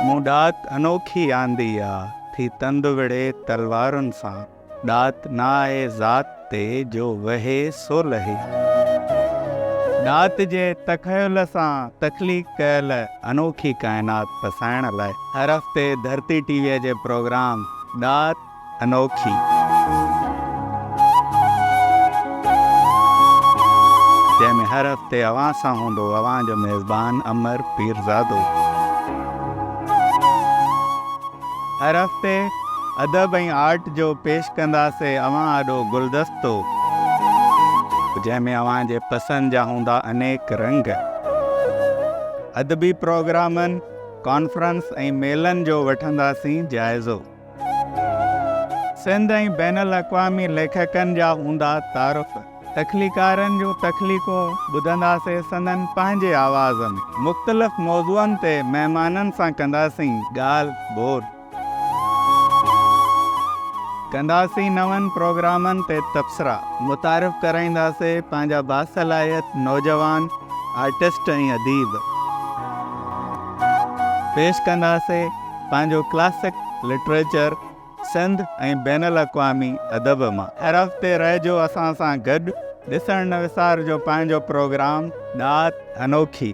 مون ڏات انوکي آندي آ، ٿي تند وڙهي تلوارن سان. ڏات نه آهي ذات تي، جو وهي سو لهي. ڏات جي تخيل سان تخليق ڪيل انوکي ڪائنات پسائڻ لاء هر هفتي ڌرتي ٽي ويء جي پروگرام ڏات، انوکي. جنهن ۾ هر هفتي اوهان سان هوندو اوهان جو ميزبان امر پيرزادو. هر هفتي ادب ۽ آرٽ جو پيش ڪنداسي اوهان آڏو گلدستو. جنهن ۾ اوهان جي پسند جا هوندا انيڪ رنگ. ادبي پروگرامن، ڪانفرنس ۽ ميلن جو وٺنداسين جائزو. سنڌ ۽ بين الاقوامي ليکڪن جا هوندا تعارف، تخليقارن جون تخليقون ٻڌنداسين سندن پنهنجي آواز ۾، مختلف موضوعن تي مهمانن سان ڪنداسين ڳالهه ٻولهه، ڪنداسين نون پروگرامن تي تبصرا، متعارف ڪرائينداسين پنهنجا باصلاحيت نوجوان آرٽسٽ ۽ اديب، پيش ڪنداسين. پنهنجو ڪلاسڪ لٽريچر سنڌ ۽ بين الاقوامي ادب مان. حرف تي رهجو اسان سان گڏ ڏسڻ نه وسارجو پنهنجو پروگرام ڏات انوکي.